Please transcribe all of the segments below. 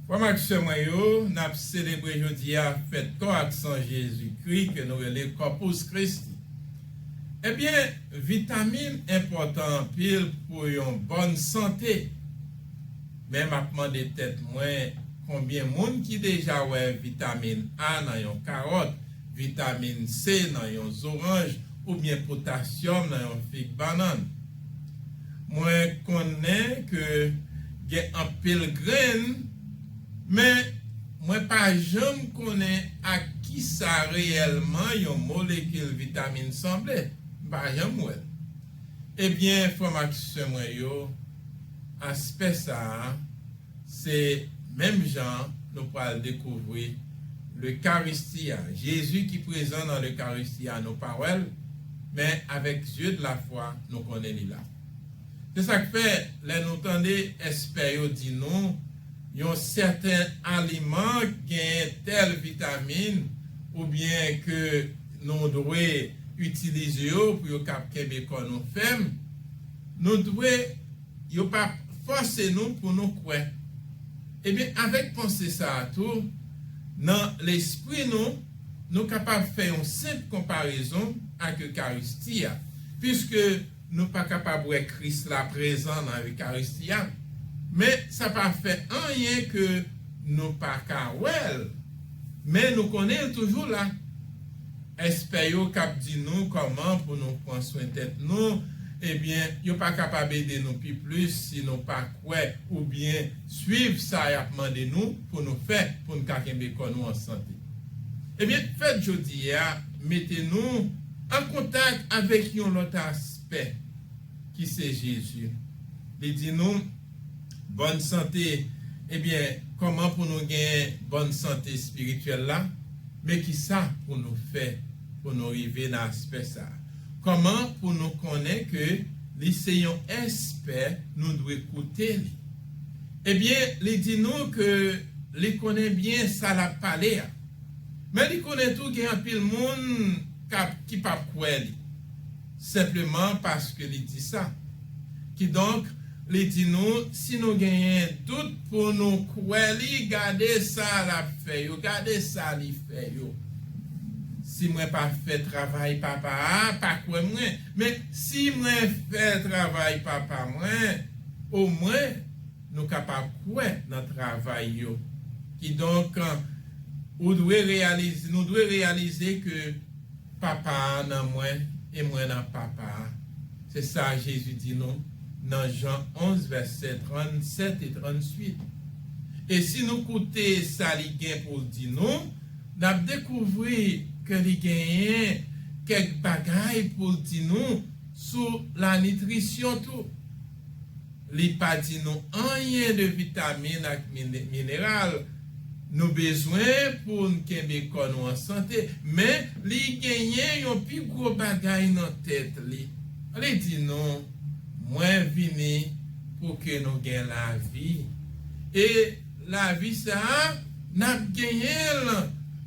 Frè m ak sè mwen yo, n ap selebre jodi a fèt kò ak san Jezikri ke nou rele Corpus Christi. Ebyen, vitamin enpòtan anpil pou yon bòn sante. Men m ap mande tèt mwen, konbyen moun ki deja wè vitamin A nan yon karòt, vitamin C nan yon zoranj oubyen potasyòm nan yon fig bannann? Mwen konnen ke gen anpil grenn, men mwen pa janm konnen ak kisa reyèlman yon molekil vitamin sanble. M pa janm wè l. Ebyen, frè m ak sè mwen yo, aspè sa a Se menm jan an nou pral dekouvri Lekaristi a, Jezi ki prezan nan Lekaristi a nou pa wè l, men avèk zye de lafwa nou konnen li la. Se sa k fè lè nou tande espè yo di nou yon sèten aliman genyen tèl vitamin oubyen ke nou dwe itilize yo pou yo kab kenbe kò nou fèm, nou dwe. Yo pa p fòse nou pou nou kwè. Ebyen, avèk panse sa a tou, nan lespri nou, nou kapab fè yon senp konparezon ak Ekaristi a, piske nou pa kapab wè Kris la prezan nan Ekaristi a, men sa pa fè anyen ke nou pa ka wè l, men nou konnen l toujou la. Espè yo k ap di nou kòman pou nou pran swen tèt nou, ebyen yo pa kapab ede nou pi plis si nou pa kwè oubyen swiv sa y ap mande nou pou nou fè pou n ka kenbe kò nou an sante. Ebyen fèt jodi a mete nou an kontak avèk yon lòt aspè. ki se Jezi. Li di nou, Bòn sante. Ebyen, kòman pou nou gen bòn sante espirityèl la? Men ki sa pou nou fè pou nou rive nan aspè sa a. Kòman pou nou konnen ke li se yon espè nou dwe koute li? Ebyen, li di nou ke li konnen byen sa l ap pale a. Men li konnen tou gen anpil moun k ap ki p ap kwè li. Senpleman paske li di sa. Kidonk, li di nou, si nou genyen dout pou nou kwè li, gade sa l ap fè yo, gade sa li fè yo. Si mwen pa fè travay Papa a, pa kwè mwen. Men, si mwen fè travay Papa mwen, omwen, nou kapab kwè nan travay yo. Kidonk, ou dwe reyalize, nou dwe reyalize ke. Papa a nan mwen e mwen nan Papa a. Se sa Jezi di nou nan Jan 11 vèsè 37 e 38. E si nou koute sa li gen pou l di nou, n ap dekouvri ke li genyen kèk bagay pou l di nou sou lanitrisyon tou. Li pa di nou anyen de vitamin ak mineral nou bezwen pou n kenbe kò nou an sante, men li genyen yon pi gwo bagay nan tèt li. Li di nou, Mwen vini pou ke nou gen lavi, e lavi sa a, n ap genyen l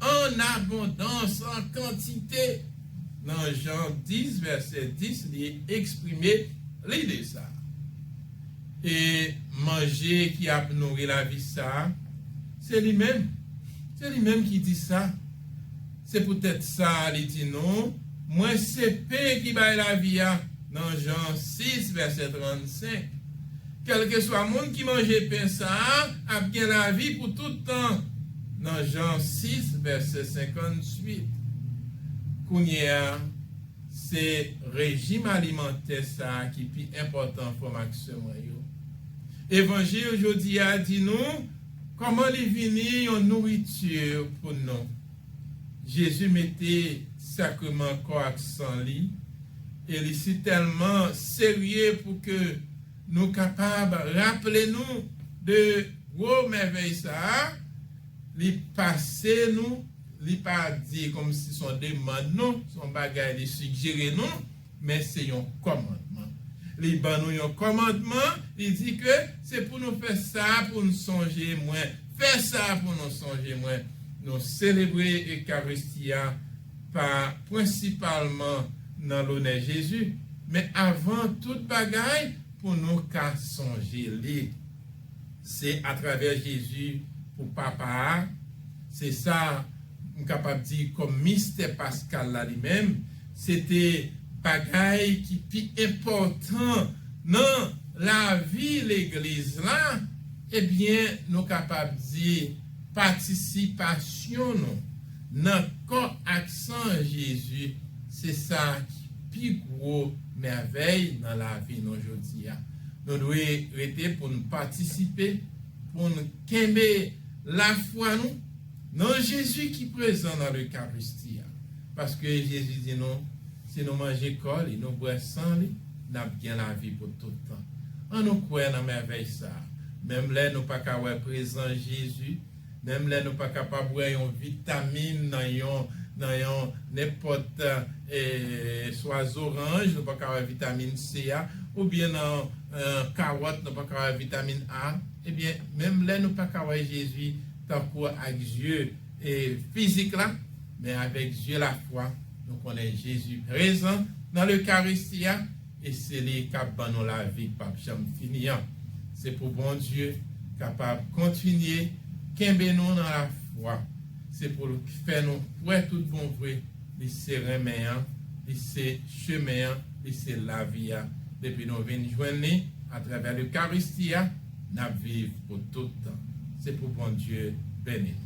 an abondans, an kantite. Nan Jan 10, vèsè 10, li eksprime Lide sa a, ke manje ki ap nouri lavi sa a, se li menm, se li menm ki di sa. Se poutèt sa li di nou, Mwen se pen ki bay lavi a, nan Jan 6, vèsè 35. Kèlkeswa moun ki manje pen sa a ap gen lavi pou tout tan, nan Jan 6, vèsè 58. Kounyeya, Se rejim alimantè sa a ki pi enpòtan frè m ak sè mwen yo. Evanjil jodi a di nou kòman li vini yon nouriti pou nou. Jezi mete sakreman kò ak san li e li sitèlman serye pou ke nou kapab raple nou de gwo mèvèy sa a li pase nou. Li pa di kòmsi son demand non, son bagay li sigjere nou, men se yon kòmandman. Li ban nou yon kòmandman, li di ke se pou nou fè sa pou nou sonje mwen, fè sa pou nou sonje mwen. Nou selebre Ekaristi a pa prensipalman nan lonè Jezi, men avan tout bagay pou nou ka sonje li. Se atravè Jezi pou Papa a, se sa m kapab di kòm mistè paskal la li menm, se te bagay ki pi enpòtan nan lavi Legliz la, ebyen nou kapab di patisipasyon nou nan kò ak san Jezi se sa ki pi gwo mèvèy nan lavi nou jodi a. Nou dwe rete pou n patisipe, pou n kenbe lafwa nou nan Jezi ki prezan nan Lekaristi a. Paske Jezi di nou, si nou manje kò li, nou bwè san li, n ap gen lavi pou tout tan. Annou kwè nan mèvèy sa a, menm lè nou pa ka wè prezans Jezi, Menm lè nou pa kapab wè yon vitamin nan yon nan yon nenpòt swa zoranj nou pa ka wè vitamin C a oubyen nan kawòt nou pa ka wè vitamin A ebyen menm lè nou pa ka wè Jezi tankou ak zye fizik la men avèk zye lafwa nou konnen Jezi prezan nan lekaristi a. E se li kap ban nou lavi k pap janm fini an. Se pou Bondye kapab kontinye kenbe nou nan lafwa. Se pou l k fè nou kwè tout bon vre li se renmen an, li se chemen an, li se lavi a. Depi nou vin jwenn li atravè Lekaristi a, nap viv pou tout tan. Se pou Bondye beni nou.